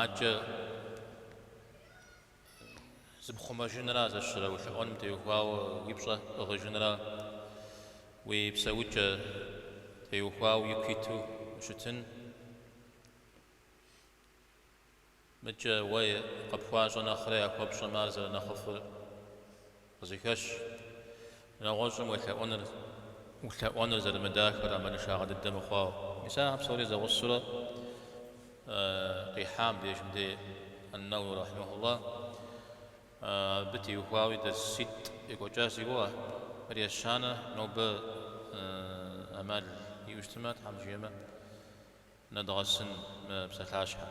Адэкӏэ зыпхъумэжынрэ зэщрэ улъэӏуэным теухуауэ уи пщӏэ пӏыгъыжынрэ уи псэукӏэ теухуауэ ику иту ущытынымкӏэ уэ къыпхуащӏэ нэхърэ яхуэпщӏэмэ ар зэрынэхъыфӏыр. Къызыхэщ. Нэгъуэщӏым уелъэӏуэныр, улъэӏуэныр зэрымыдахэр амалыншагъэ дыдэ мыхъуауэ. Мис ахэр псори зэгъусэурэ къихьам деж мыдей Ан-Нэуэуи рэхьимэхуллахь абы теухуауи дерситӏ екӏуэкӏащ си гугъэ, ар ещанэ, нобэ амал иӏэу щытмэ, Тхьэм жиӏэмэ, нэдгъэсын мы псалъащхьэр.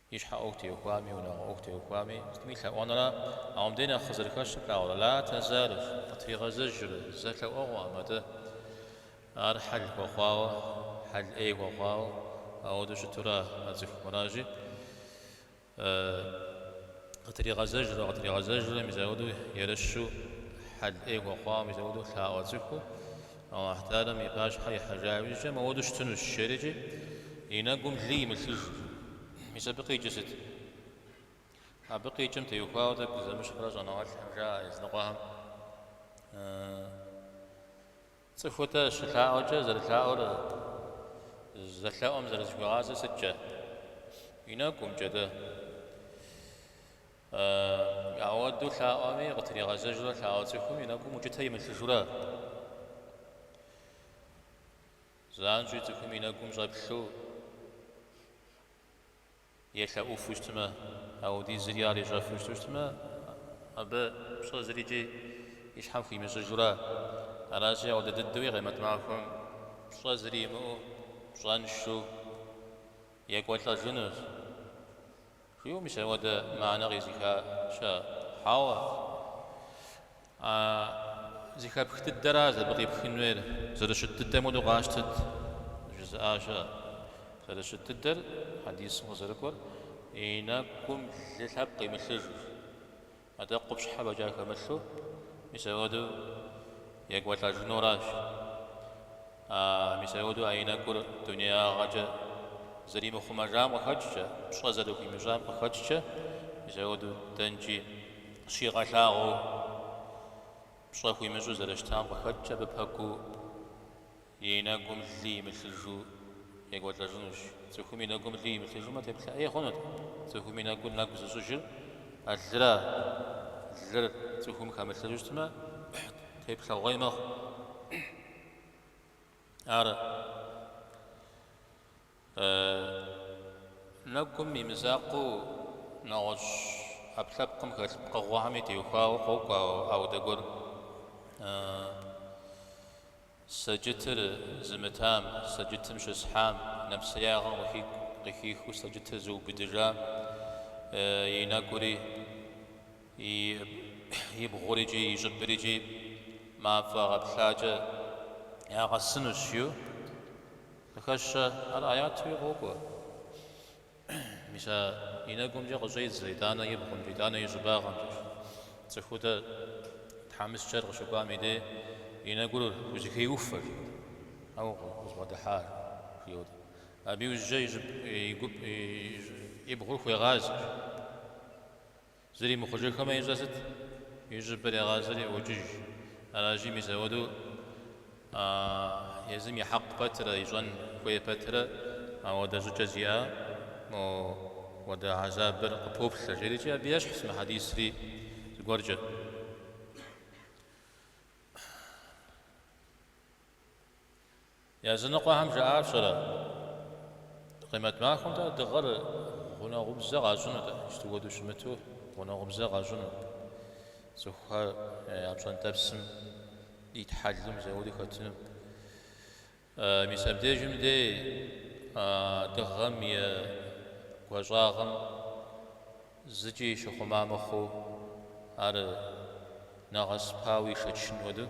И щхьэ ӏуэху теухуами, и унагъуэ ӏуэху теухуами, сытми лъэӏуэнрэ, ауэ мыбдеж нэхъ къызэрыхэщыр плъагъурэ, Ла тэзалу къытригъэзэжрэ зэ лъэӏуэгъуэкъым атӏэ. Ар хьэл хуэхъуауэ, хьэл ӏей хуэхъуауэ ауэдэу щытура а цӏыхум, аращи, Къытригъэзэжрэ, къытригъэзэжрэ, мис ауэдэу ерыщу хьэл ӏей хуэхъуауэ, мис ауэдэу лъаӏуэ цӏыхуу, Алыхьталэм и пащхьэ ихьэжа иужькӏэ мыуэду щытынущ, жери-кӏи, и нэгум лы имылъыж. Мис абы къикӏыр сыт? Абы къикӏым теухуауэ тӏэкӏу зэмыщхьурэ щӏэныгъэлӏхэм жаӏэ языныкъуэхэм, Цӏыху-тӏэ щылъаӏуэкӏэ зэрылъаӏуэр зэлъэӏум зэрызыхуигъазэр сыткӏэ? И нэгумкӏэ дэ. Ауэдэу лъаӏуэми, къытригъэзэжурэ лъаӏуэ цӏыхум и нэгум укӏытэ имылъыжурэ, занщӏэу цӏыхум и нэгум щӏэплъу елъэӏуфу щытмэ, ауэдизри ар ищӏэфу щыту щытмэ, абы пщӏэ зырикӏи и щхьэм хуимыщӏыжурэ. Аращи, ауэдэ дыдэуи къемэт махуэм пщӏэ зыри имыӏэу пщӏэншэу екӏуэлӏэжынущ. Жиӏэу мис ауэдэ мыхьэнэ къизыха щыӏэщ. Хьэуэ. А зэхэпх дыдэращ абы къипхын хуейр, зэрыщыт дыдэм хуэдэу къащтэт, жызыӏа щыӏэщ. Зэрыщыт дыдэр, хьэдисым къызэрыкӏуэр, и нэкӏум лы лъэпкъ имылъыжу, Атӏэ къупщхьэ фӏэкӏа хэмылъу, мис ауэдэу екӏуэлӏэжынуращ. А мис ауэдэу а и нэкӏур дунеягъэкӏэ зэримыхъумэжам къыхэкӏкӏэ, пщӏэ зэрыхуимыщӏам къыхэкӏкӏэ, мис ауэдэу дэнкӏи щигъэлъагъуэу пщӏэ хуимыщӏу зэрыщытам къыхэкӏкӏэ абы пэкӏуу, И нэгум лы имылъыжу екӏуэлӏэжынущ. Цӏыхум и нэгум лы имылъыжмэ, теплъэ ӏей хъунут. Цӏыхум и нэгу нэгу зыщӏыжыр а лыра? Лыр цӏыхум хэмылъыжу щытмэ, теплъэгъуей мэхъу. Ар. Нэгум и мызакъуэу нэгъуэщӏ ӏэпкълъэпкъым хэлъ пкъыгъуэхэми теухуауэ къокӏуэ ауэдэ гуэр. Сэджытыр зымытам, сэджытым щысхьам, нэпсеягъэм къыхикӏу, къыхихыу сэджытыр зыубыдыжам и нэгури, и бгъурикӏи и щӏыбрикӏи мафӏэ гъэплъакӏэ ягъэсынущ, жиӏэу. Къыхэщэ ар аятуи къокӏуэ. Мис а и нэгумкӏэ къыщӏедзэ итӏанэ и бгъумкӏэ, итӏанэ и щӏыбагъымкӏэщ. Цӏыхуу дэ тхьэмыщкӏэр къыщыкӏуам и дей и нэгур хузэхеуфэщ, ауэ къызбгъэдыхьар, жиӏэу дэ. Абы иужькӏэ и щӏыб, и гуп, и бгъур хуегъазэщ. Зыри мыхъужыхэмэ ищӏэ сыт? И щӏыбыр егъазэри ӏуокӏыж. Аращи, мис ауэдэу а езым и хьэкъ пэтрэ ищӏэн хуей пэтрэ ауэдэ щӏыкӏэ зиӏэм ауэдэ хьэзабыр къыпоплъэ, жиӏэрикӏи, абы ещхьщ мы хьэдисри зыгуэркӏэ. Языныкъуэхэм жаӏащэрэ, къимэт махуэм-тӏэ дыгъэр гъунэгъубзэ къащӏынут, иджыт хуэдэу щымыту гъунэгъубзэ къащӏынут. Цӏыхухэр я пщӏэнтӏэпсым итхьэлэм мис ауэдэу хэтынут. Мис абдежым дей дыгъэм и гуащӏагъым зыкӏи щыхъума мыхъуу, ар нэгъэсыпауэ ишэчын хуэдэу,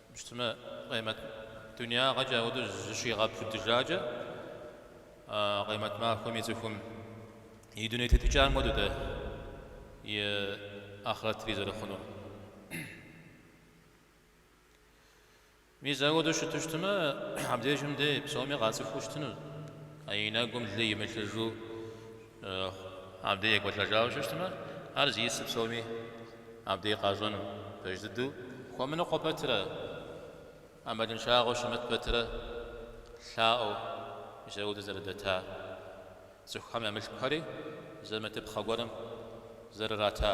Щытмэ Къемэт дунеягъэкӏэ ауэдэу зыщигъэпудыжакӏэ, Къемэт махуэм и цӏыхум и дуней тетыкӏэм хуэдэу дэ и ахърэтри зэрыхъунур. Мис ауэдэу щыту щытмэ, абдежым дэ псоми къацӏыхуу щытынущ, а и нэгум лы имылъыжу Абдей екӏуэлӏэжауэ щытмэ, ар зиӏысыр псоми абдей къащӏэну, пэж дыдэу. Хуэмыныкъуэ пэтрэ, ӏэмалыншагъэу щымыт пэтрэ лъаӏуэу мис ауэдэу зэрыдэта, цӏыхухэм я мылъкухэри зэмытыпхъэ гуэрым зэрырата.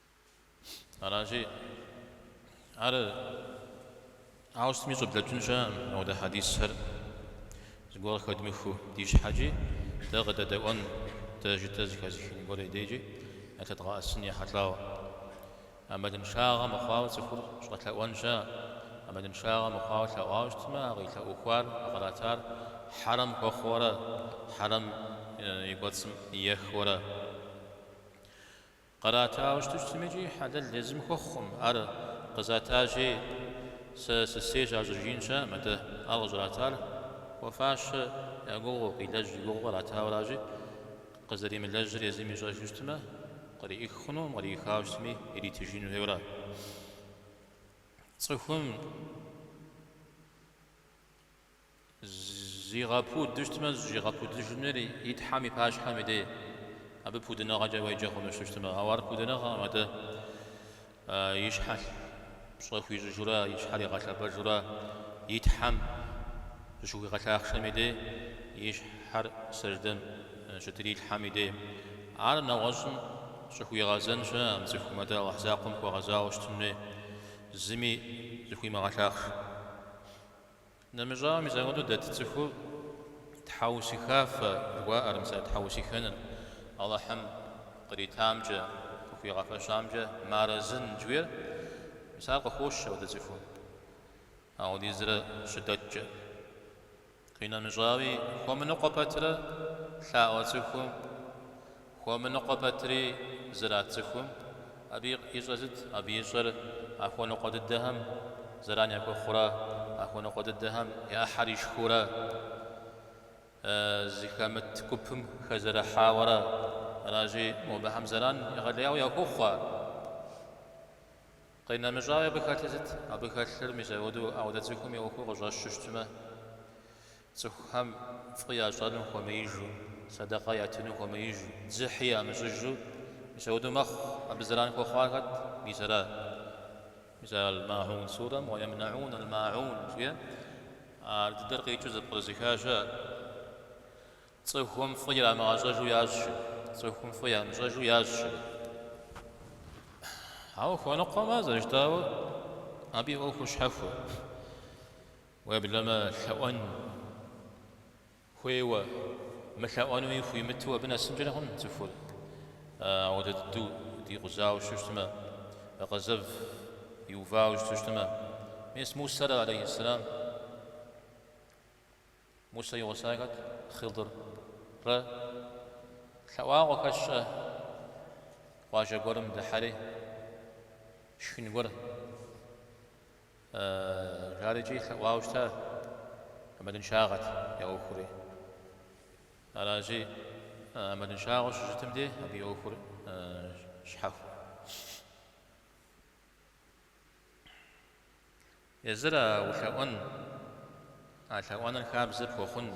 Аращи, ар ауэ сытми щӏыблэкӏын щыӏэкъым ауэдэ хьэдисхэр зыгуэр къыхэдмыхыу. Ди щхьэкӏи дэ къыдэдэӏуэн, дэ жытӏэ зыхэзыхын гуэр и дейкӏи ялъэдгъэӏэсын ехьэлӏауэ. ӏэмалыншагъэ мыхъуауэ цӏыхур щӏэлъэӏуэн щыӏэкъым. ӏэмалыншагъэ мыхъуауэ лъэӏуауэ щытмэ, а къилъэӏухуар, а къратар хьэрэм хуэхъуэурэ, хьэрэм и кӏуэцӏым ихуэурэ. Къратауэ щыту щытми икӏи хьэлэл езым хуэхъукъым, ар къызатащи, сэ сысейщ ар щӏыжиӏэн щыӏэм, атӏэ ар къыщӏратар хуэфащэ я гугъэу, къилэжь я гугъэу къратауращи, къызэримылэжьыр езым ищӏэжу щытмэ, къриӏих хъунукъым, къриӏихауэ щытми, иритыжын хуейуэ ара цӏыхум. Зигъэпуду щытмэ, зыщигъэпудыжынур и Тхьэм и пащхьэм и дей. Абы пудыныгъэкӏэ уеджэ хъуну щытмэ. Ауэ ар пудыныгъэкъым, атӏэ. И щхьэ пщӏэ хуищӏыжурэ, и щхьэр игъэлъэпӏэжурэ и Тхьэм зыщыхуигъэлъахъшэм и дей, и щхьэр сэждэм щытыр и Тхьэм и дей. Ар нэгъуэщӏым щӏыхуигъэзэн щыӏэм цӏыхум, атӏэ Алыхь закъуэм хуэгъэзауэ щытын хуей, зыми зыхуимыгъэлъахъш. Нэмыщӏауэ, мис апхуэдэу дэт цӏыхур тхьэусыхафэ жыхуаӏэр, мис а тхьэусыхэныр Алыхьым къритамкӏэ, къыхуигъэфэщамкӏэ мыарэзын жыхуиӏэр, мис ар къыхощ апхуэдэ цӏыхум апхуэдизрэ щыдэткӏэ. Къинэмыщӏауи, хуэмыныкъуэ пэтрэ лъаӏуэ цӏыхум. Хуэмыныкъуэ пэтри зэрат цӏыхум, абы ищӏэр сыт? Абы ищӏэр а хуэныкъуэ дыдэхэм зэран яхуэхъурэ, а хуэныкъуэ дыдэхэм я ӏыхьэр ишхыурэ, зыхэмыт гупым хэзэрыхьауэрэ аращи, мо абыхэм зэран егъэлеяуэ яхуохъуэ. Къинэмыщӏауи абы хэлъыр сыт? Абы хэлъыр мис апхуэдэу ауэдэ цӏыхум и ӏуэхур къыщӏэщу щытмэ, цӏыхухэм фӏы ящӏэну хуэмеижу, сэдэкъэ ятыну хуэмеижу, дзыхьи ямыщӏыжу, мис апхуэдэу мэхъу, абы зэран хуэхъуа хэт, мис ара. Мис ар Аль-Ма'ун сурэм, уа емна'ун Аль-Ма'ун, жиӏэ, ар дыдэр къикӏыу зэпкърызыха щыӏэ. Цӏыхум фӏы ирамыгъэщӏэжу ящӏщэ, цӏыхум фӏы ямыщӏэжу ящӏщэ. Ауэ хуэныкъуэмэ, зэрыжытӏауэ, абы и ӏуэхур щхьэхуэ. Уеблэмэ лъэӏуэн хуейуэ, мылъэӏуэнуи хуимыту абы нэсынкӏэри хъун цӏыхур. Ауэдэ дыдэу дикъузауэ щыту щытмэ, къэзэв иувауэ щыту щытмэ, мес Мусэрэ, алейхи ссэлам, Мусэ и гъуса хэт? Хъыдыррэ. Лъэӏуакъуэ хэсщӏэ къуажэ гуэрым дыхьэри, шхын гуэр. Жары икӏи лъэӏуауэ щыта ӏэмалыншагъэт я ӏуэхури. Аращи, ӏэмалыншагъэу щыщытым де абы и ӏуэхур щхьэхуэ. Езыр а улъэӏуэн, а лъэӏуэныр хабзэ пхуэхъун.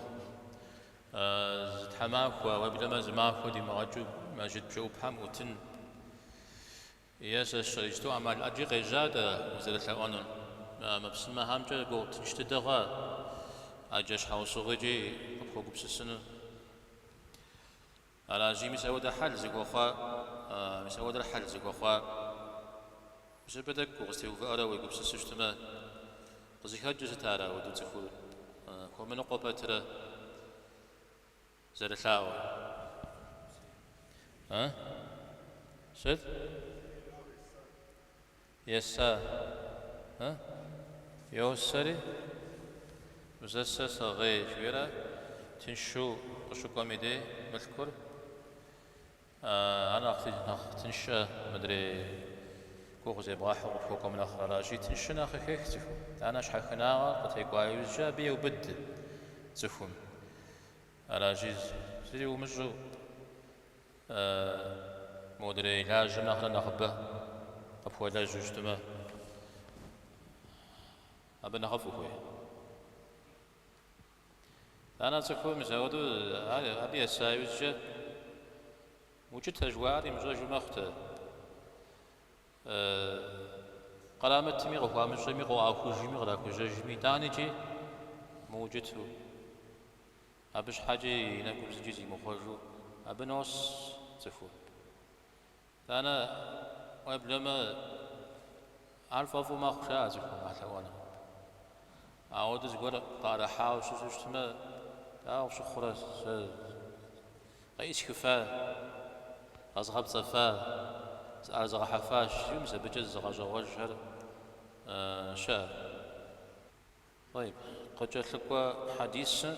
Зы тхьэмахуэ, уеблэмэ зы махуэ димыгъэкӏыу Мэжыт бжэӏупхьэм ӏутын. Е сэщэ, иджыстэу ӏэмал ӏэджи къежьа-тӏэ узэрылъэӏуэнур? Мы псымэхэмкӏэ ӏуэху тынш дыдэ хъуа ӏэджэ щхьэусыгъуи икӏи къыпхуэгупсысыну. Аращи мис ауэдэ хьэл зыхуэхъуа? Мис ауэдэр хьэл зыхуэхъуа? Мис абы тӏэкӏу укъызэтеувыӏэрэ уегупсысу щытмэ, къызыхэкӏыр сыт ар ауэдэу цӏыхур хуэмыныкъуэ пэтрэ? зэрылъаӏуэр. А? Сыт? Еса. А? Йосэри узэсэ сэгъей жыхуиӏэра тыншу къыщыкӏуэм и дей мылъкур? Ар нэхъри нэхъ тыншэ, мыдрей гугъу зебгъэхьу къыпхуэкӏуэм нэхърэ аращи, тыншыр нэхъ къыхех цӏыхум. Итӏанэ щхьэхынагъэр къытекӏуа иужькӏэ абы еубыд цӏыхум. Аращи, зыри умыщӏу, модрей лажьэм нэхърэ нэхъыбэ къыпхуэлэжьу щытмэ, абы нэхъыфӏ ухуей. Анэ цӏыхур мис ауэду абы еса иужькӏэ, Укӏытэ жыхуаӏэр имыщӏэжу мэхъу-тӏэ. Кърамытми, къыхуамыщӏми, къыӏуахужми, кърахужьэжми, итӏани икӏи мыукӏыту, абы щхьэкӏи и нэгум зыкӏи зимыхъуэжу абы нос цӏыхур. Танэ, уеблэмэ, ар фӏэфӏу мэхъуж а цӏыхум а лъэӏуэныр. Ауэдэ зыгуэр къыӏэрыхьауэ щыщу щытмэ, дауэ къыщыхъурэ, сэ къеӏысхыфа, къэзгъэпцӏэфа, зыӏэрызгъэхьэфащ, жи мис абыкӏэ зызыгъэщӏэгъуэжхэр щыӏэ. Къыкӏэлъыкӏуэ хьэдисыр.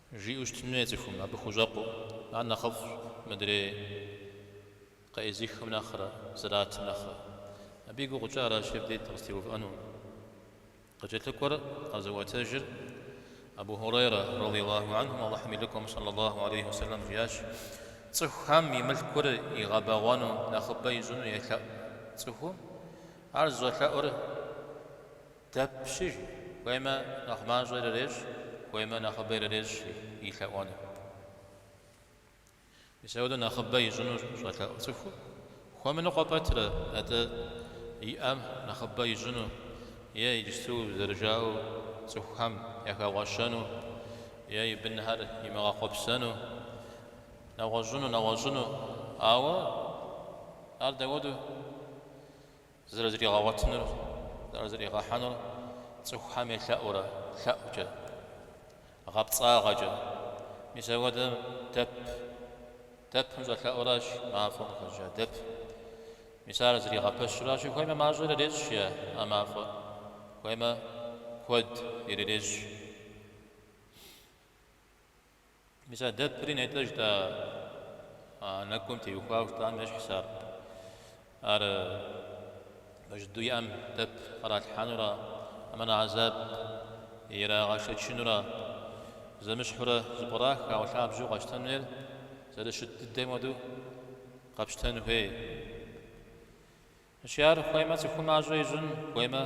Жиӏэу щытын хуей цӏыхум абы хущӏэкъуу, ар нэхъыфӏщ мыдрей къеӏызыххэм нэхърэ, зэратым нэхърэ. Абы и гугъу ищӏар аращи, абы де дыкъызтеувыӏэну. Къыкӏэлъыкӏуэр къэзыӏуэтэжыр Абу Хьурейрэ, радий Аллаху анхум, Аллахьым и лӏыкӏуэм, сэллэ Аллаху алейхи уэ сэлэм, жиӏащ, Цӏыхухэм и мылъкур игъэбэгъуэну нэхъыбэ ищӏыну елъэӏу цӏыхум, ар зыщӏэлъэӏур, Дэпщ жи, хуеймэ, нэхъ мащӏэ ирырещӏ, хуеймэ, нэхъыбэ ирырещӏ и лъэӏуэным. Мис ауэдэу нэхъыбэ ищӏыну щӏэлъэӏу цӏыхур хуэмыныкъуэ пэтрэ, атӏэ иӏэм нэхъыбэ ищӏыну е иджысту зэрыжаӏэу цӏыхухэм яхэгъуэщэну е и бынхэр имыгъэхъуэпсэну нэгъуэщӏыну, нэгъуэщӏыну, ауэ ар дауэдэу? Зэрызригъэгъуэтынур, зэрызригъэхьэнур цӏыхухэм елъэӏурэ лъэӏукӏэ, гъэпцӏагъэкӏэ. Мис апхуэдэм дэп, дэпым щӏэлъэӏуращ мафӏэм къыхэщӏыкӏа дэп. Мис ар зригъэпэщыращи, хуеймэ мащӏэ ирырещӏ е а мафӏэр, хуеймэ куэд ирырещӏ. Мис а дэпри нетӏэ жытӏа нэкӏум теухуауэ жытӏам ещхьщ ар. Ар пэж дыдэу и ӏэм дэп къралъхьэнура, хьэмэ хьэзаб ирагъэшэчынура, зэмыщхьурэ зэпкърах ауэ лъабжьэу къэщтэн хуейр зэрыщыт дыдэм хуэдэу къэпщтэн хуей. Аращи ар хуеймэ цӏыхум мащӏэ ищӏын, хуеймэ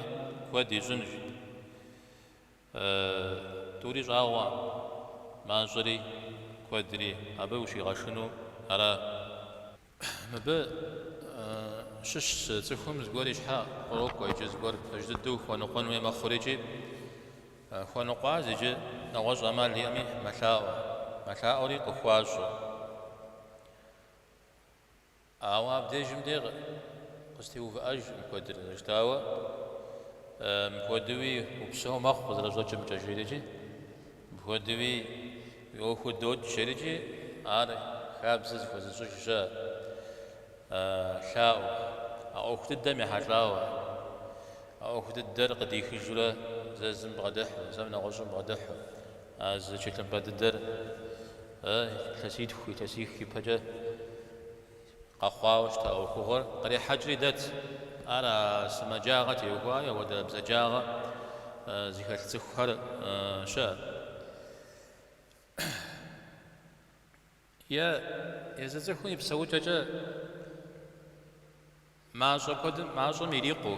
куэд ищӏынщ. Э, тӏури щӏагъуэ, мащӏэри куэдри абы ущигъэшынэу ара? Мыбы щыщ зы цӏыхум зыгуэр и щхьэ кърокӏуэ, иджы зыгуэр пэж дыдэу хуэныкъуэн хуей мэхъурикӏи хуэныкъуащ иджы нэгъуэщӏ ӏэмал иӏэми мэлъаӏуэ. Мэлъаӏуэри къыхуащӏэ. Ауэ абдежым деж къызэтеувыӏэж мыпхуэдэр. Зэрыжытӏауэ, мыпхуэдэуи упсэу мэхъу къызэрыщӏэкӏымкӏэ, жиӏэрэкӏи, мыпхуэдэуи уи ӏуэхур докӏ, жиӏэрэкӏи, ар хабзэ зыхуэзыщӏыж щыӏэщ лъаӏуэ, а ӏуэху дыдэм ехьэлӏауэ, а ӏуэху дыдэр къыдихыжурэ зэ зым бгъэдыхьу, зэм нэгъуэщӏым бгъэдыхьу, А зы тхылъымпӏэ дыдэр а илъэситху, илъэсих ипэкӏэ къэхъуауэ щыта ӏуэхугъуэр кърихьэкӏри дэт. Ар а сымаджагъэ теухуа апхуэдэ бзаджагъэ зыхэлъ цӏыхухэр щыӏэщ. Е езы цӏыхум и псэукӏэкӏэ мащӏэ куэдым, мащӏэм ирикъуу,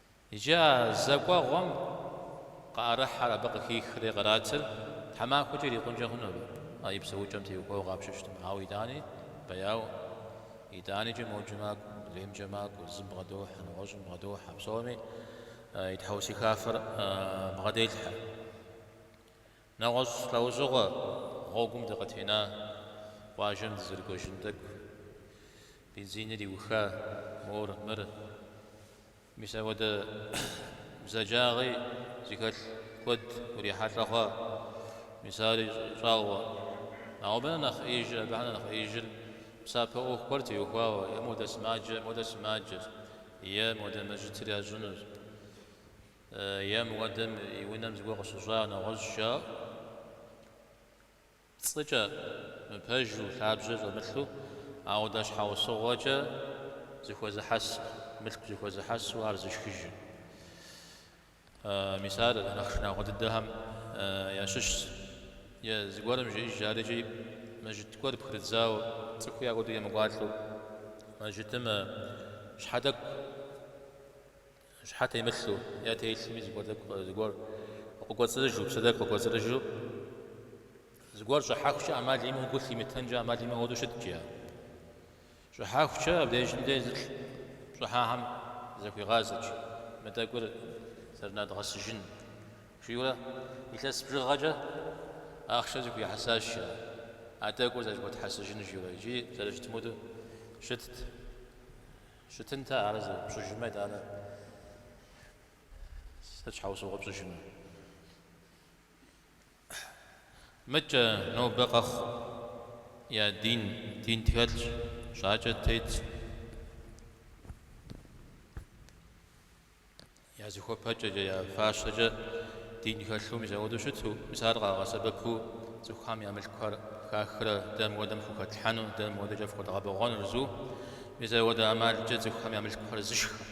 Иджы а зэ кӏуэгъуэм къыӏэрыхьэр, абы къыхихри къратыр тхьэмахуэкӏэ ирикъункӏэ хъуну абы? Ар и псэукӏэм теухуауэ къапщтэу щытмэ, ауэ итӏани бэяу, итӏаникӏэ моджэ макӏуэ, адреймкӏэ макӏуэ, зым бгъэдохьэ, нэгъуэщӏым бгъэдохьэ, псоми и тхьэусыхафэр бгъэделъхьэ. Нэгъуэщӏ лӏэужьыгъуэ гъуэгум дыкъытена къуажэм дызэрыкӏуэжын тӏэкӏу. Бензиныр иуха, мор, мыр. Мис апхуэдэ бзаджагъи зыхэлъ куэд урихьэлӏэ хъуа. Мис ари щӏагъуэ. Ауэ абы нэхъ нэхъ ӏеижыр, абыхэм нэхъ нэхъ ӏеижыр псапэ ӏуэху гуэр теухуауэ, е модэ сымаджэ, модэ сымаджэщ, е модэ мэжытыр ящӏынущ. Е мыуэдэм и унэм зыгуэр къыщыщӏа нэгъуэщӏ жаӏэу, пцӏыкӏэ, мыпэжу, лъабжьэ щӏэмылъу, ауэдэ щхьэусыгъуэкӏэ зэхуэзыхьэсу, мылъку зэхуэзыхьэсу ар зышхыжу. Мис ар нэхъ шынагъуэ дыдэхэм ящыщщ. Е зыгуэрым жиӏэжар икӏи мэжыт гуэр пхырыдзауэ, цӏыхуи апхуэдэу емыкӏуалӏэу, мэжытым щхьэ тӏэкӏу Щхьэ темылъу е телъми зыгуэр къыкӏуэцӏрыжу, псы тӏэкӏу къыкӏуэцӏрыжу, зыгуэр щӏыхьэхукӏэ ӏэмал имыӏэу гу лъимытэнкӏэ ӏэмал имыӏэу ауэдэу щыткӏи ар. Щӏыхьэхукӏэ абдежым де зылӏ щӏыхьэхэм захуигъазэкӏэ, мы тӏэкӏур зэрынадгъэсыжын, жиӏэурэ илъэс бжыгъэкӏэ ахъшэ зэхуихьэсащ ар, а тӏэкӏур зэхуэтхьэсыжын жиӏэурэ икӏи зэрыщытам хуэдэу щытт. Щытынтэ ар зэ пщӏыжмэ, итӏанэ сыт щхьэусыгъуэ пщӏыжыну? Мыкӏэ, нобэ къэхъу, я дин, дин тхэлъщ, жьакӏэ тетщ. Я зыхуэпэкӏэкӏэ, я фащэкӏэ дин хэлъу мис ауэдэу щыту, мис ар къагъэсэбэпу цӏыхухэм я мылъкухэр хахрэ дэ мыуэдэм фхухэтлъхьэну, дэ мыуэдэкӏэ фхуэдгъэбэгъуэнущ жаӏэу, мис ауэдэ ӏэмалкӏэ цӏыхухэм я мылъкухэр зышхэ.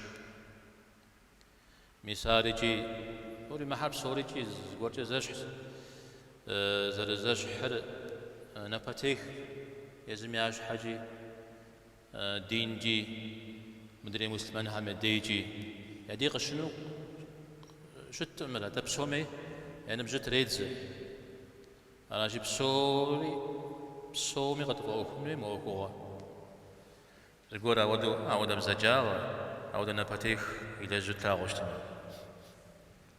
Мис ар икӏи, тӏури мыхэр псори икӏи зыгуэркӏэ зэщхьщ, зэрызэщхьыр напэтех, езым я щхьэкӏи Динкӏи, мыдрей муслъымэнхэм я дейкӏи, я дей къыщынэу щытӏым мыр, атӏэ псоми я ныбжьыр тредзэ. Аращи, псори, псоми къытфӏэӏуэхун хуей мы ӏуэхугъуэ. Зыгуэр ауэдэу, ауэдэ бзаджагъэ, ауэдэ напэтех илэжьу тлъагъуу щытмэ.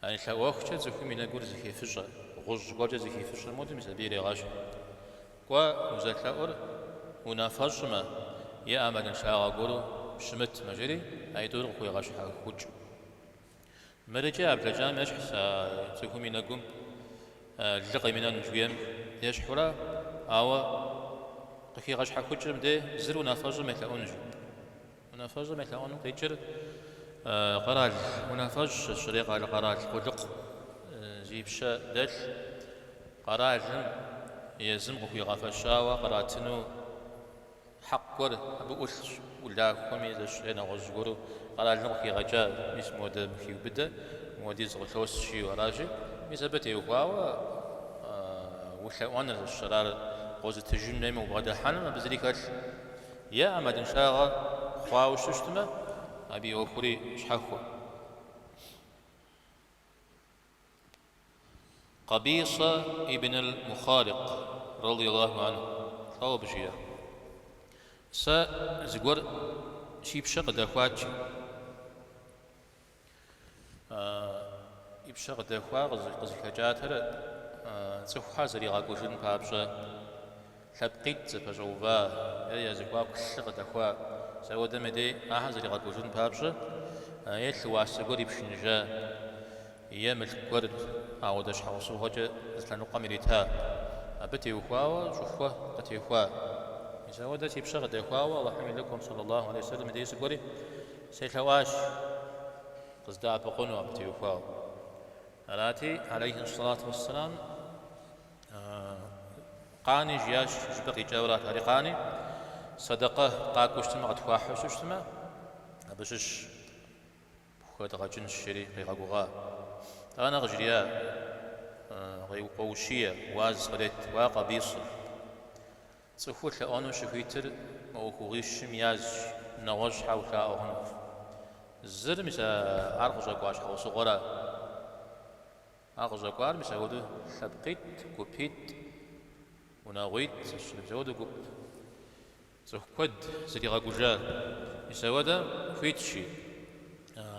А лъэӏуэхукӏэ цӏыхум и нэгур зэхифыщӏэ, гъущӏ гуэркӏэ зэхифыщӏэм хуэдэм, мис абы ирегъэщхь. Кӏуэ, узэлъэӏур унафэщӏмэ е ӏэмалыншагъэ гуэру щымытмэ, жери а итӏур къыхегъэщхьэхукӏ. Мыр икӏи а блэкӏам ещхьщ а цӏыхум и нэгум лы къимынэну жиӏэм ещхьурэ, ауэ къыхигъэщхьэхукӏыр мыдэ зыр унафэщӏым елъэӏунущ. Унафэщӏым елъэӏуэным къикӏыр къэрал унафэщӏ, сщӏэрэ, къэ- къэрал къулыкъу зи пщэ дэлъ къэралым езым къыхуигъэфэщауэ къратыну хьэкъ гуэр абы ӏулъщ, улахуэми сщӏэрэ нэгъуэщӏ гуэру къэралым къыхигъэкӏа, мис модэ мыхиубыдэ, мыуэдиз къылъос жиӏэу аращи, мис абы теухуауэ улъэӏуэныр сщӏэрэ, ар къозытыжын хуейм убгъэдыхьэным абы зыри хэлъ, Е ӏэмалыншагъэ хъуауэ щыщтмэ, абы и ӏуэхури щхьэхуэ. Къабисэ ибн аль-Мухарикъ, рады Аллаху анху, щӏауэ абы жиӏэ, Сэ зыгуэр си пщэ къыдэхуатщ. И пщэ къыдэхуар къызыхэкӏатэр цӏыхухэр зэригъэкӏужын папщӏэ лъэпкъитӏ зэпэщӏэува я зэхуаку лъы къыдэхуа мис ауэдэм и дей ахэр зэригъэкӏужын папщӏэ е лъы уасэ гуэр ипшыныжа е мылъку гуэр ауэдэ щхьэусыгъуэкӏэ зы лъэныкъуэм ирита абы теухуауэ щӏыхуэ къытехуа мис ауэдэ си пщэ къыдэхуауэ Алыхьым и Лыкӏуэм саллалаху алейхи ва саллям и дей сыкӏуэри Селъэӏуащ къыздэӏэпыкъуну абы теухуауэ. Арати, алейхи сэлату уэссэлам, Къани, жиӏащ, жыпӏэ къикӏыу арат, ари къани, сэдэкъэ къакӏуэу щытмэ, къытхуахьу щыщытмэ, абы щыщ пхуэдгъэкӏынщ, жери къигъэгугъа. Тӏанэ къыжриӏа, къоущие, уаз къырет, Уа Къабисэ. Цӏыхур лъэӏуэну щыхуитыр мы ӏуэхугъуищым язщ, нэгъуэщӏ щхьэ улъаӏуэ хъунукъым. Зыр, мис а ар къыщӏэкӏуа щхьэусыгъуэра? Ар къыщӏэкӏуар, мис апхуэдэу лъэпкъитӏ, гупитӏ, унагъуитӏ, сщӏэрэ, мис апхуэдэу гуп. Цӏыху куэд зэригъэкӏужар, мис апхуэдэр хуитщи,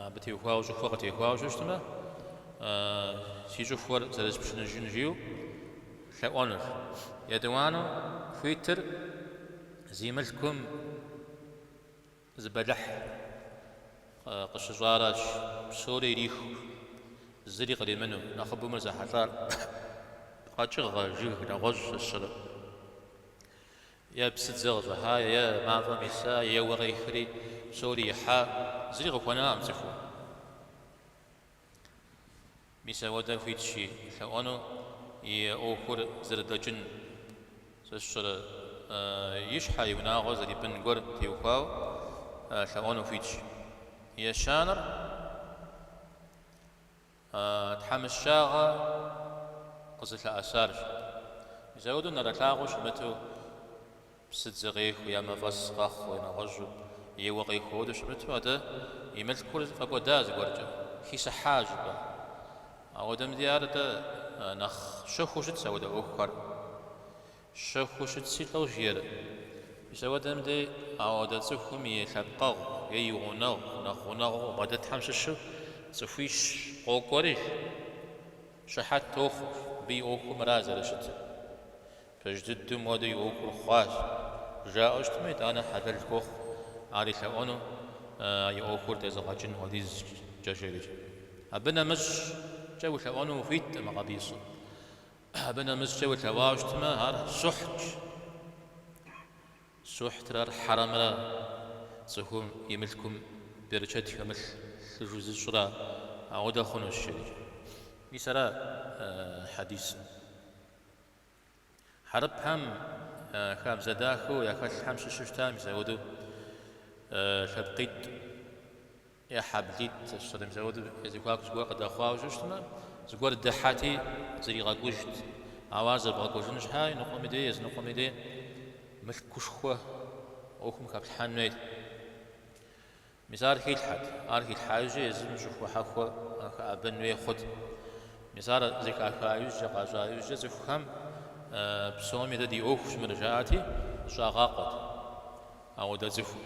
Абы теухуауэ щӏыхуэ къытехуауэ щыщтмэ, си щӏыхуэр зэрыспшыныжын жиӏэу лъэӏуэнущ. Етӏуанэу хуитыр зи мылъкум зы бэлыхь къыщыщӏаращ, псори ириху, зыри къримыну, нэхъыбэу мыр зэхьэлӏар къэкӏыгъэ, жыг, нэгъуэщӏ сщӏэрэ. Е псыдзэ къыщӏыхьа, е мафӏэм иса, е уэ къехри, псори ихьа, зыри къыхуэнакъым цӏыхум. Мис ауэдэр хуитщи, лъэӏуэну и ӏуэхур зэрыдэкӏын. Сэ сщӏэрэ, и щхьэ, и унагъуэ зэрипӏын гуэр теухуауэ лъэӏуэну хуитщ. Ещанэр? Тхьэмыщкӏагъэ къызылъэӏэсарщ. Мис ауэдэу нэрэлъагъуэу щымыту, псыдзэ къехуи, е мафӏэс къэхъу, е нэгъуэщӏу, е уэ къехуэ хуэдэу щымыту, атӏэ и мылъкур фӏэкӏуэда зыгуэркӏэ, хисыхьа щӏыпӏэ. Ауэдэм дей ар атӏэ нэхъ щэхуу щытщ ауэдэ ӏуэхухэр. Щэхуу щытси, лӏэу жиӏэр. Мис ауэдэм дей ауэдэ цӏыхум и лъэпкъэгъу е и гъунэгъу нэхъ гъунэгъуу къыбгъэдэтхэм щыщу цӏыхуищ къокӏуэри, щыхьэт тохъу абы и ӏуэхум ара зэрыщытыр. Пэж дыдэу моуэдэ и ӏуэхур хъуащ, жаӏэу щытмэ, итӏанэ хьэлэл хуохъу ар илъэӏуэну а и ӏуэхур тезыгъэкӏын хуэдизкӏэ, жери. Абы нэмыщӏкӏэ уилъэӏуэну ухуиткъым абы ису. Абы нэмыщӏкӏэ улъэӏуауэ щытмэ, ар сухьтщ. Сухьтрэ ар хьэрэмрэ цӏыхум и мылъкум берычэт хэмылъыжу зыщӏрэ ауэдэ хъунущ, жери. Мис ара хьэдисым. Хьэрыпхэм я хабзэ дахэу яхэлъхэм щыщу щытащ мис ауэдэу лъэпкъитӏ. Е хьэблитӏ, щӏалэм зауэт я зэхуаку зыгуэр къыдэхъуауэ щытмэ, зыгуэр дыхьэти, зэригъэкӏужт. Ауэ ар зэбгъэкӏужын щхьэ е ныкъуэми дей, е зы ныкъуэми дей мылъкушхуэ ӏуэхум хэплъхьэн хуейт. Мис ар хилъхьэт. Ар хилъхьа иужь езым щӏыхуэ хьэхуэ хэӏэбэн хуей хъут. Мис ар зэхаха иужькӏэ, къащӏа иужькӏэ цӏыхухэм псоми дэ ди ӏуэхущ мыр жаӏати, зыщӏагъакъуэт ауэдэ цӏыхур.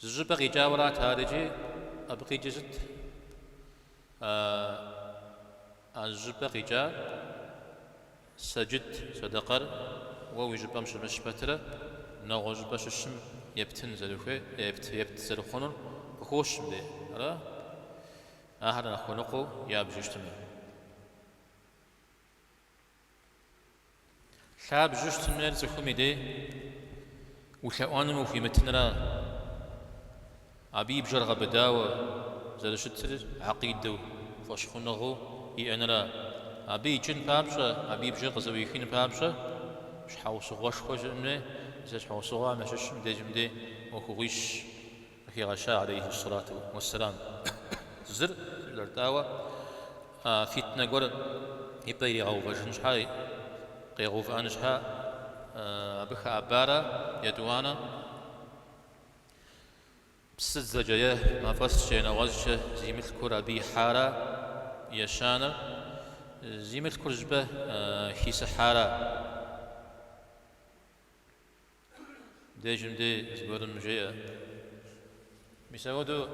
Зы щӏыпӏэ къикӏауэрат ар икӏи абы къикӏыр сыт? А зы щӏыпӏэ къикӏа сэджыт, сэдэкъэр уэ уи щӏыпӏэм щымыщ пэтрэ нэгъуэ щӏыпӏэ щыщым ептын зэрыхуей, епт, епт зэрыхъунур къыхощ мыдей, ара? Ахэр нэхъ хуэныкъуэу ябжу щытыну. Лъабжьу щытыныр цӏыхум и дей улъэӏуэным ухуимытынра? Абы и бжэр гъэбыдауэ зэрыщытыр акъидэу, фӏэщхъуныгъэу иӏэнра? Абы икӏын папщӏэ, абы и бжэр къызэӏуихын папщӏэ щхьэусыгъуэшхуэ щыӏэн хуей, зы щхьэусыгъуэхэм ящыщ мыдежьым дей ӏуэхугъуищщ. Къыхигъэща алейхи ссалату уэсселам зыр лӏэр? Дауэ, фитнэ гуэр и пӏэ иригъэувэжын щхьэ, къигъэувыӏэн щхьэ абы хэӏэбара етӏуанэ псыдзэкӏэ е мафӏэскӏэ е нэгъуэщӏкӏэ зи мылъкур абы ихьара ещанэр, зи мылъкур щӏыпӏэ хисыхьара. Дежым дей зыгуэрым жеӏэ. Мис ауэдэу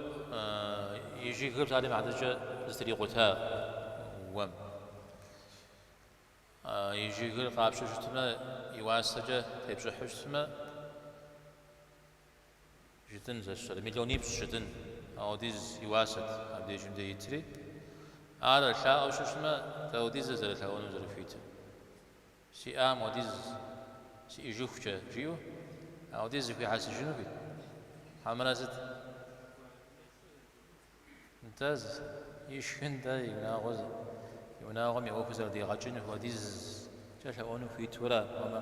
и жыгыр псалъэм и хьэтыркӏэ зэтрикъута уэм. И жыгыр къапщтэу щытмэ, и уасэкӏэ тепщӏыхьу щытмэ, жытӏэнщ, сэ сщӏэрэ, миллионипщӏ жытӏэнщ, ауэдиз и уасэт, абдежым дей итри. Ар лъэӏуэу щыщтмэ, дауэдиз зэрылъэӏуэну зэрыхуитыр. Сиӏам уэдиз сиӏыжыхукӏэ, жиӏэу ауэдиз зэхуихьэсыжыну хуит? Хьэмэрэ сыт? Нтӏэ, ишхындэ и унагъуэ зи, и унагъуэм и ӏуэхур зэрыдигъэкӏын хуэдизкӏэ лъэӏуэну хуиту ара, ауэмэ,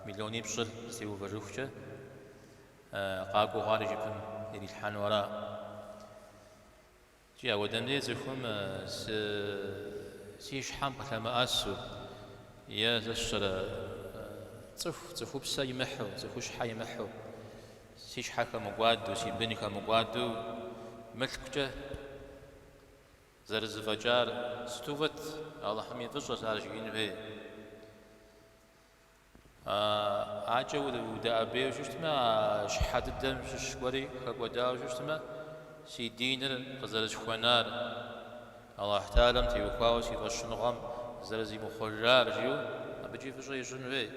миллионипщӏыр зытеувэжыхукӏэ, къакӏуэу ар и жыпым ирилъхьэну ара? Кӏи, ауэдэм дей цӏыхум сы си щхьэм къылъэмыӏэсу е сэ сщӏэрэ цӏыху, цӏыхупсэ имыхьу, цӏыхущхьэ имыхьу, си щхьэ хэмыкӏуаду, си бын хэмыкӏуаду мылъкукӏэ зэрызэфӏэкӏар сыту фӏыт, Алыхьым и фӏыщӏэщ ар жиӏэн хуейр. ӏэкӏэ удэӏэбейуэ щыщтмэ, а щхьэ дыдэм щыщ гуэри хэкӏуэдауэ щыщтмэ, си диныр къызэрысхуэнар, Алыхь Тэхьэлам теухуауэ си фӏэщхъуныгъэм зэрызимыхъуэжар, жиӏэу абыкӏи фӏыщӏэ ищӏын хуей,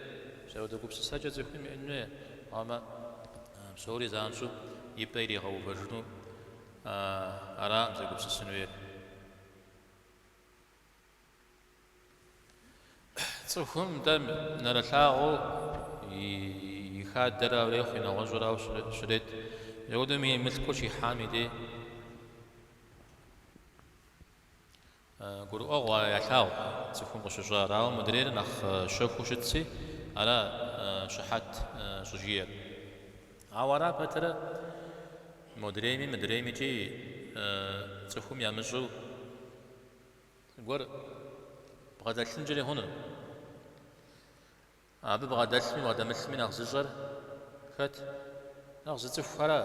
мис ауэдэ гупсысэкӏэ цӏыхум иӏэн хуей, ауэмэ псори занщӏэу и пӏэ иригъэувэжыну аракъым зэгупсысын хуейр. Цӏыхум дей нэрылъагъуу и хадэрауэ ирехъуи нэгъуэщӏрауэ щрет. Ауэдэм и мылъкур щихьам и дей гурыӏуэгъуэщ, ар ялъагъу, цӏыхум къыщыщӏар. Ауэ мыдрейр нэхъ щэхуу щытщи, ара щыхьэт щӏыжиӏэр. Ауэ ара пэтрэ модрейми мыдрейми икӏи цӏыхум ямыщӏу Зыгуэр бгъэдэлъынкӏэри хъуну? Абы бгъэдэлъми бгъэдэмылъми нэхъ зыщӏэр хэт? Нэхъ зыцӏыхухэра.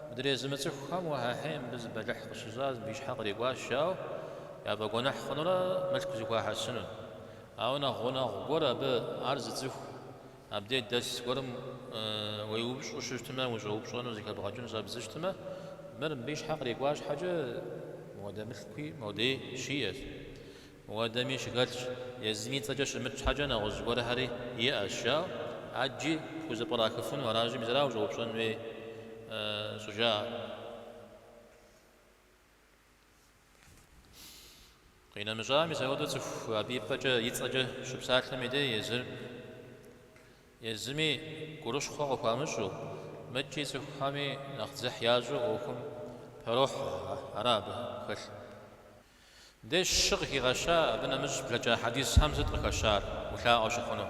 Мыдрей зымыцӏыхухэм уэхьэхьей мыбы зы бэлыхь къыщыщӏащ, мыбы и щхьэ кърикӏуащ, жаӏэу яфӏэгуэныхь хъунурэ мылъку зэхуахьэсыну. Ауэ нэхъ гъунэгъу гуэр абы ар зыцӏыху. Абдеж дэс зыгуэрым уеупщӏу щыщтмэ, ущӏэупщӏэну зэхэбгъэкӏын щӏэбдзэу щыщтмэ, мыр мыбы и щхьэ кърикӏуа щхьэкӏэ, мыуэдэ мылъкуи модей щиӏэщ. Мыуэдэми щыхэлъщ, езыми и цӏэкӏэ щымыт щхьэкӏэ нэгъуэщӏ зыгуэрхэри иӏэщ, жаӏэу, ӏэджи пхузэпкърахыфыну аращи, мис ара ущӏэупщӏэн хуей щӏыжаӏэр? Къинэмыщӏа, мис ауэдэ цӏыху абы и пӏэкӏэ, и цӏэкӏэ щыпсалъэм и дей езыр езыми гурыщхъуэ къыхуамыщӏу, мыкӏи цӏыхухэми нэхъ дзыхь ящӏу ӏуэхум пэрохьэ, ара абы хэлъ. Мыбдеж щы къыхигъэща, абы нэмыщӏ блэкӏа хьэдисхэм сыт къыхэщар, улъаӏуэ щыхъуну?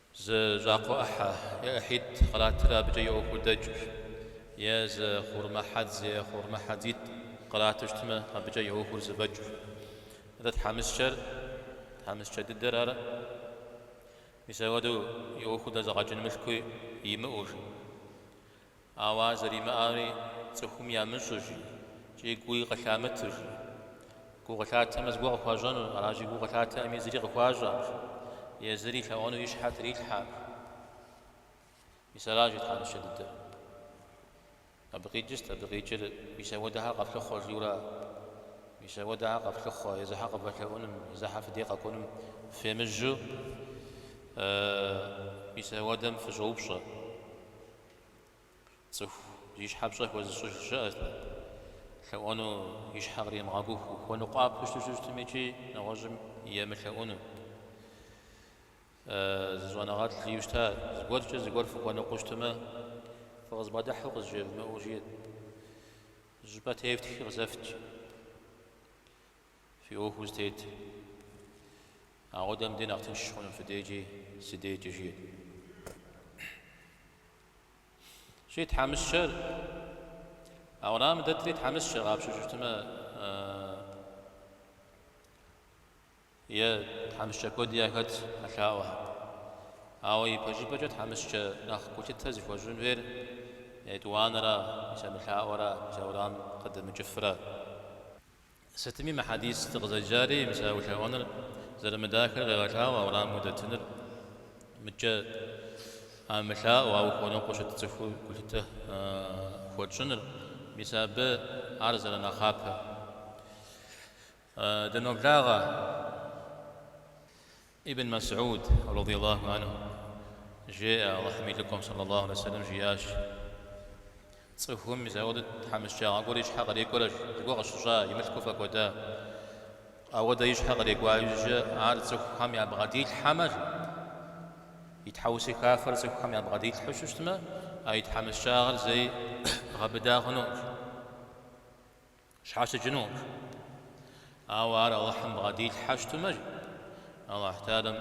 Зы щӏакхъуэ ӏыхьэ, е ӏыхьитӏ, къратыр абыкӏэ и ӏуэхур дэкӏщ. Е зы хъурмэ хьэдз, е хъурмэ хьэдзитӏ кърату щытмэ, абыкӏэ и ӏуэхур зэфӏэкӏщ. Атӏэ тхьэмыщкӏэр, тхьэмыщкӏэ дыдэр ара? Мис ауэдэу и ӏуэхур дэзыгъэкӏын мылъкуи имыӏэу, жи. Ауэ ар зэримыӏэри цӏыхум ямыщӏу жи, икӏи гуи къылъамыту жи. Гу къылъатэмэ зыгуэр къыхуащӏэнущ, аращи гу къылъатэӏыми зыри къыхуащӏэӏым, езыри лъэӏуэну и щхьэр трилъхьэӏым. Мис аращи тхьэмыщкӏэ дыдэр. Абы къикӏыр сыт, абы къикӏыр мис апхуэдэхэр къэфлъыхъуэ жиӏэурэ. Мис апхуэдэхэр къэфлъыхъуэ, езыхьэр къывэлъэӏунум, езыхьэр фи дей къэкӏуэнум фемыжьу мис апхуэдэм фыщӏэупщӏэ. Цӏыху зи щхьэ пщӏэ хуэзыщӏыж щыӏэт. Лъэӏуэну и щхьэ къримыгъэкӏухэу, хуэныкъуапэу щыту щыщытым икӏи нэгъуэщӏым емылъэӏуну. Зы щӏэныгъэлӏ жиӏэу щыта, Зыгуэркӏэ зыгуэр фыхуэныкъуэу щытмэ, фыкъызбгъэдыхьу къызжевмыӏэу жиӏэт. Тхылъымпӏэ тефтхи къызэфт. Фи ӏуэху зытет. Ауэдэм дей нэхъ тынш хъуну фи декӏи, си декӏи, жиӏэт. Щи тхьэмыщкӏэр, а уэрамым дэтри тхьэмыщкӏэ къапщту щытмэ, е тхьэмыщкӏэ куэди яхэт а лъаӏуэхэр. Ауэ ипэжыпӏэкӏэ тхьэмыщкӏэ нэхъ гулъытэ зыхуэщӏын хуейр етӏуанэра, мис а мылъаӏуэра, мис а уэрамым къыдэмыкӏыфра. Сытми мы хьэдис дыкъызэджари, мис а улъэӏуэныр зэрымыдахэр къегъэлъагъуэ, а уэрамым удэтыныр мыкӏэ а мылъаӏуэу, ауэ хуэныкъуэу щыт цӏыхум гулъытэ хуэтщӏыныр, мис абы ар зэрынэхъапэ. Дыноблагъэ. Ибн Мэсьуд, радий Аллаху анху, жеӏэ, Аллахьым и Лӏыкӏуэм, сэллэ Аллаху алейхи ва сэллэм, жиӏащ, Цӏыхум мис ауэдэ тхьэмыщкӏагъэ гуэр и щхьэ кърекӏуэрэ, зыгуэр къыщыщӏа, и мылъкур фӏэкӏуэда. Ауэдэ и щхьэ кърекӏуа иужькӏэ ар цӏыхухэм ябгъэдилъхьэмэ, и тхьэусыхафэр цӏыхухэм ябгъэдилъхьу щытмэ, а и тхьэмыщкӏагъэр зэи гъэбыда хъунукъым. Щхьэщыкӏынукъым. Ауэ ар Алыхьым бгъэдилъхьэу щытмэ, жи, Алыхь Таалэм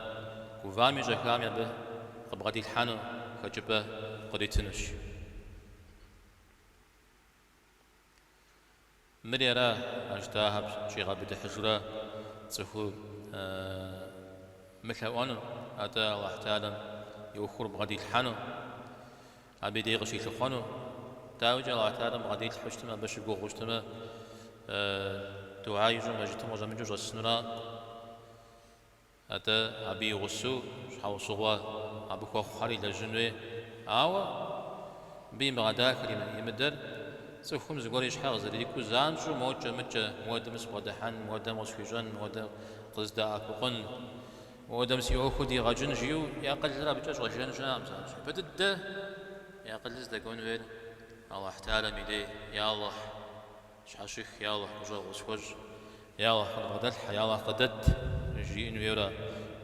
гувами щӏэхами абы къыбгъэдилъхьэну хэкӏыпӏэ къритынущ. Мыри ара, а жытӏахэр щӏигъэбыдыхьыжу ара цӏыхур мылъэӏуэну, атӏэ Алыхь Таалэм и ӏуэхур бгъэдилъхьэну. Абы и дей къыщилъыхъуэну, дауикӏи Аллахь Таалэм бгъэдилъхьу щытмэ, абы щыгугъыу щытмэ, дугьа ищӏу мэжытым къыщӏэмыкӏыу щӏэсынураӏым. Атӏэ абы и гъусэу щхьэусыгъуэ абы хуэхъухьэр илэжьын хуей. Ауэ мыбы имыгъэдахэр, имыдэр цӏыхум зыгуэр и щхьэ къызэрикӏуэу занщӏэу мокӏэ-мыкӏэ, муэдэм сыбгъэдыхьэн, муэдэм къысхуищӏэн, муэдэм къыздэӏэпыкъун. Модэм си ӏуэхур дигъэкӏын жиӏэу и акъылыр абыкӏэ щӏэжэн щыӏэкъым. Занщӏэу япэ дыдэ и акъылыр здэкӏуэн хуейр Алыхь Таалэм и дей, Я Алыхь, сщхьэщых, Я Алыхь, гущӏэгъу къысхуэщӏ, Я Алыхь, къыдбгъэдэлъхьэ, Я Алыхь, къыдэт, жиӏэн хуейуэ ара.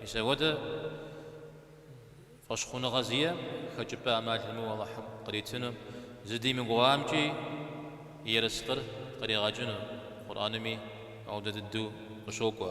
Мис апхуэдэ фӏэщхъуныгъэ зиӏэ, хэкӏыпӏэ ӏэмал имыӏэу Алыхьым къритыну, зыдимыгугъамкӏи и ерыскъыр къригъэкӏыну Къурӏэнми ауэдэ дыдэу къыщокӏуэ.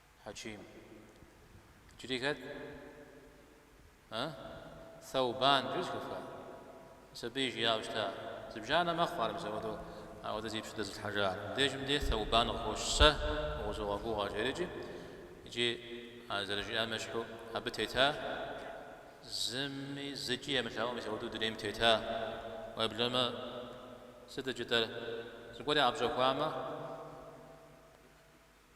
Хьэчим. Иджыри хэт? Ы? Сэубан жиӏэу зыхэфха? Мис абы жиӏауэ щыта. Зыбжанэ мэхъу ар, мис апхуэдэу апхуэдэ зи пщэ дэзылъхьэжар. Мыбдежым дей Сэубан къыхощ сэ укъызогъэгугъэ, жеӏэрикӏи, икӏи ар зэрыжиӏам ещхьу абы тета, зыми зыкӏи емылъаӏуэу мис апхуэдэу дунейм тета, уеблэмэ, сыт икӏытэр, зыгуэр ӏэпщӏэхуамэ,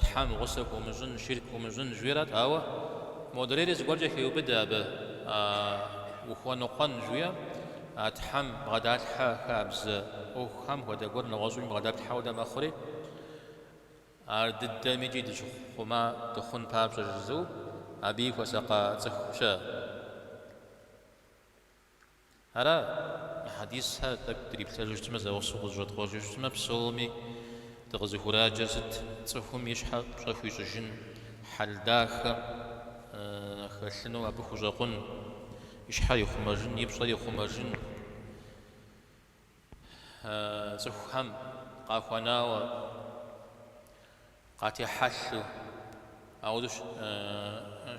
Тхьэм гъусэ хуумыщӏын, ширк хуумыщӏын жиӏэрат, ауэ модрейри зыгуэркӏэ хеубыдэ абы, Ухуэныкъуэн жиӏэм, а Тхьэм бгъэдалъхьэ хабзэ ӏуэхухэм хуэдэ гуэр нэгъуэщӏым бгъэдалъхьэ хуэдэ мэхъури, ар дыдэмкӏи дыщыхъума дыхъун папщӏэ жызыӏэу, абыи хуэсакъа цӏыхущ. Ара, мы хьэдисхэр тӏэкӏу дриплъэжу щытмэ, зэгъусэу къызэщӏэткъуэжу щытмэ, псоми дыкъызыхураджэр сыт? Цӏыхум и щхьэ пщӏэ хуищӏыжын, хьэл дахэ хэлъыну абы хущӏэкъун, и щхьэр ихъумэжын, и пщӏэр ихъумэжын. Цӏыхухэм къахуэнауэ къатехьэлъу ауэдэу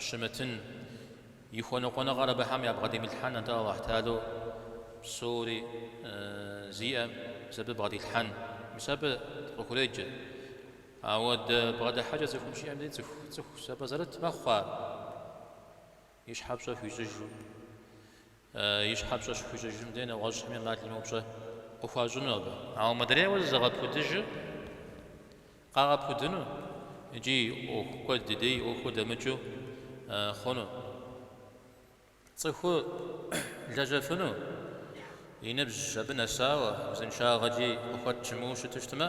щымытын и хуэныкъуэныгъэр абыхэм ябгъэдимылъхьэн атӏэ Аллахь Таалэу псори зиӏэм мис абы бгъэдилъхьэн. Мис абы къыхуреджэ. Ауэдэ бгъэдыхьэкӏэ цӏыхум щиӏэм дей цӏыху цӏыху сэбэп зэрыт мэхъу ар. И щхьэ пщӏэ хуищӏыжу. И щхьэ пщӏэ щыхуищӏыжым дей нэгъуэщӏхэми ӏэмал имыӏэу пщӏэ къыхуащӏыну абы. Ауэ мыдрейуэ зызыгъэпудыжыр къагъэпудыну икӏи ӏуэху куэд дыдэ и ӏуэхур дэмыкӏыу хъуну, цӏыхур лэжьэфыну и ныбжь абы нэсауэ узыншагъэкӏи къыхуэт щымыӏэу щыту щытмэ,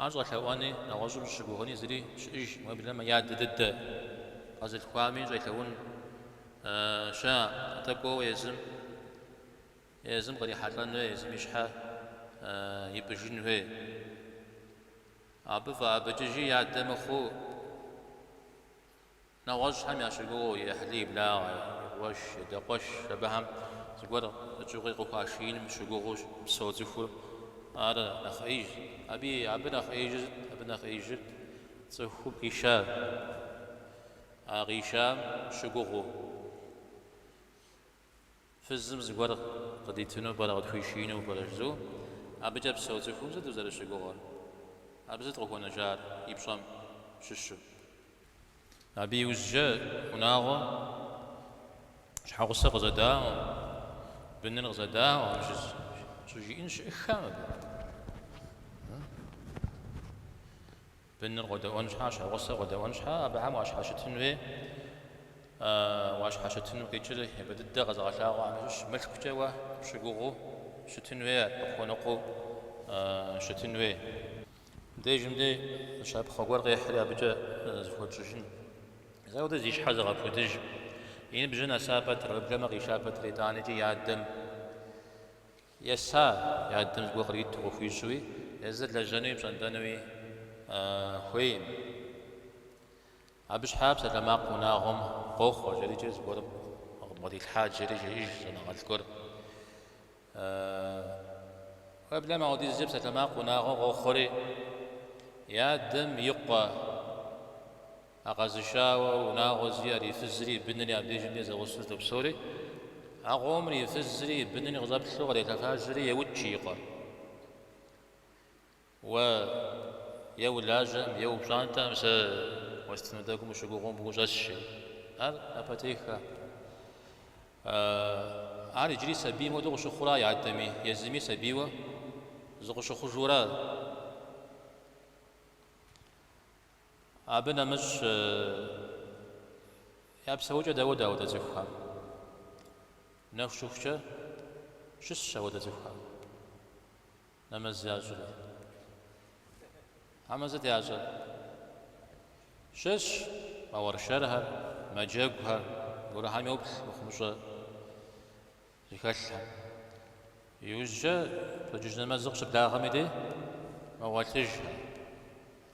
Ар щӏэлъэӏуэни, нэгъуэщӏым щыщыгугъыни зыри щыӏэж, уеблэмэ я адэ дыдэ къэзылъхуами щӏелъэӏун щыӏэ, атӏэ кӏуэуэ езым, езым кърихьэлӏэн хуей, езым и щхьэ ипӏыжын хуей. Абы фӏэӏэбыкӏыжи и адэ мыхъуу. Нэгъуэщӏхэм ящыгугъыу и ӏыхьлы, и благъэ, и къуэш, и адэ къуэш абыхэм зыгуэр къыкӏыгъи къыхуашииным щыгугъыу псэу цӏыхур. Ар нэхъ ӏеиж. Аби абы нэхъ ӏеижыр сыт? Абы нэхъ ӏеижыр цӏыхум къишар. А къишам щыгугъыу. Фызым зыгуэр къыдитыну пӏэрэ, къытхуишиину пӏэрэ жызу, абыкӏэ псэу цӏыхум сыт узэрыщыгугъыр? Абы сыт къыхуэнэжар и пщӏэм щыщу? Абы иужькӏэ унагъуэм щхьэгъусэр къызэдаӏуэм, быныр къызэдаӏуэм щӏыжиӏэн щыӏыххэ абы? Быныр къодэӏуэн щхьа, щхьэгъусэр къодэӏуэн щхьа, абыхэм уащхьэщытын хуей, уащхьэщытыну къикӏыр, япэ дыдэ къэзыгъэлъагъуэхьэм ящыщщ. Мылъкукӏэ уэ пщыгугъыу щытын хуей, къыпхуэныкъуэу щытын хуей. Дежым дей щапхъэ гуэр къехьри абыкӏэ зыхуэтщӏыжын. Ауэдэ зи щхьэ зыгъэпудыж. И ныбжьыр нэса пэтрэ, уеблэмэ къиша пэтрэ итӏаникӏи и адэм Еса, и адэм зыгуэр къриту къыхуищӏуи, езыр лэжьэнуи пщӏэнтӏэнуи хуейм. Абы щхьа псалъэмакъ унагъуэм къохъуэ, жэри икӏи зыгуэрым къыдбгъэдилъхьа жэри, жеӏэж щӏэныгъэлӏ гуэр. Уеблэмэ, ауэдизкӏэ псалъэмакъ унагъуэм къохъуэри, и адэм и къуэ. А къэзышауэ унагъуэ зиӏар, и фызри и бынри абдежым дей зэгъусэу зэдопсэури, а къомыр и фызри и бынри къыщӏэплъу кърелъэфажьэри еукӏ и къуэр. Уэ е улажьэм, е упщӏантӏэм сэ уэстыну тӏэкӏум ущыгугъыу мыбы ущӏэсщи, ар напэтеххэ. Ар иджыри сабийм хуэдэу къыщыхъура и адэми, езыми сабийуэ зыкъыщыхъужура? Абы нэмыщӏ я псэукӏэ дауэдэ ауэдэ цӏыхухэм. Нэху щыхукӏэ щысщ ауэдэ цӏыхухэм нэмэз ящӏрэ? Хьэмэ сыт ящӏэр? Щысщ, мауэршэрхэр, мэджэгухэр, гурыхьэм йоплъ мыхъумыщӏэ. Зыхэлъхэм. Иужькӏэ пщэдджыжь нэмэзыр къыщыблагъэми дей мэгъуэлъыжхэ.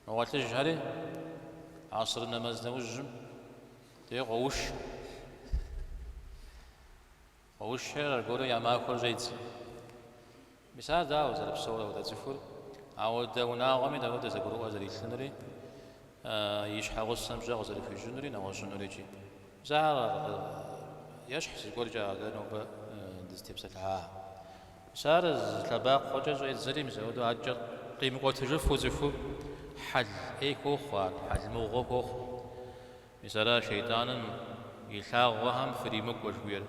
Мэгъуэлъыжхэри асырым нэмэз нэужьым дей къоуш. Къоушхэри аргуэру я махуэр щӏедзэ. Мис ар дауэ зэрыпсэур ауэдэ цӏыхур, ауэдэ унагъуэми дауэдэ зэгурыӏуэ зэрилъынури, и щхьэгъусэм пщӏэ къызэрыхуищӏынури, нэгъуэщӏынури икӏи. Мис ар ещхь зыгуэркӏэ ар дэ нобэ дызытепсэлъыхьа. Мис ар зы лъэбакъуэкӏэ щӏедзэри, мис ауэдэу адэкӏэ къимыкӏуэтыжыфу цӏыхур хьэл ӏей хуохъу ар, хьэл мыгъуэ хуохъу. Мис ара шейтӏаным и лъагъуэхэм фыримыкӏуэ жыхуиӏэр.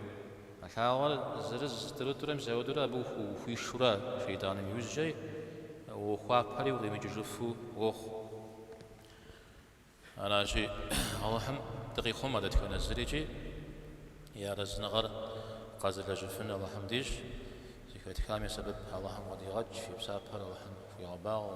А лъагъуэр зырыз-тӏурытӏурэ мис ауэдэурэ абы ухуишэурэ шейтӏаным иужькӏэ уохуапэри укъимыкӏыжыфу уохъу. Аращи, Алыхьым дыкъихъумэ дэтхэнэ зыри икӏи и арэзыныгъэр къэзылэжьыфын Алыхьым дищӏ, зыхэтхам и сэбэп Алыхьым къыдигъэкӏ, и псапэр Алыхьым хуигъэбагъуэ.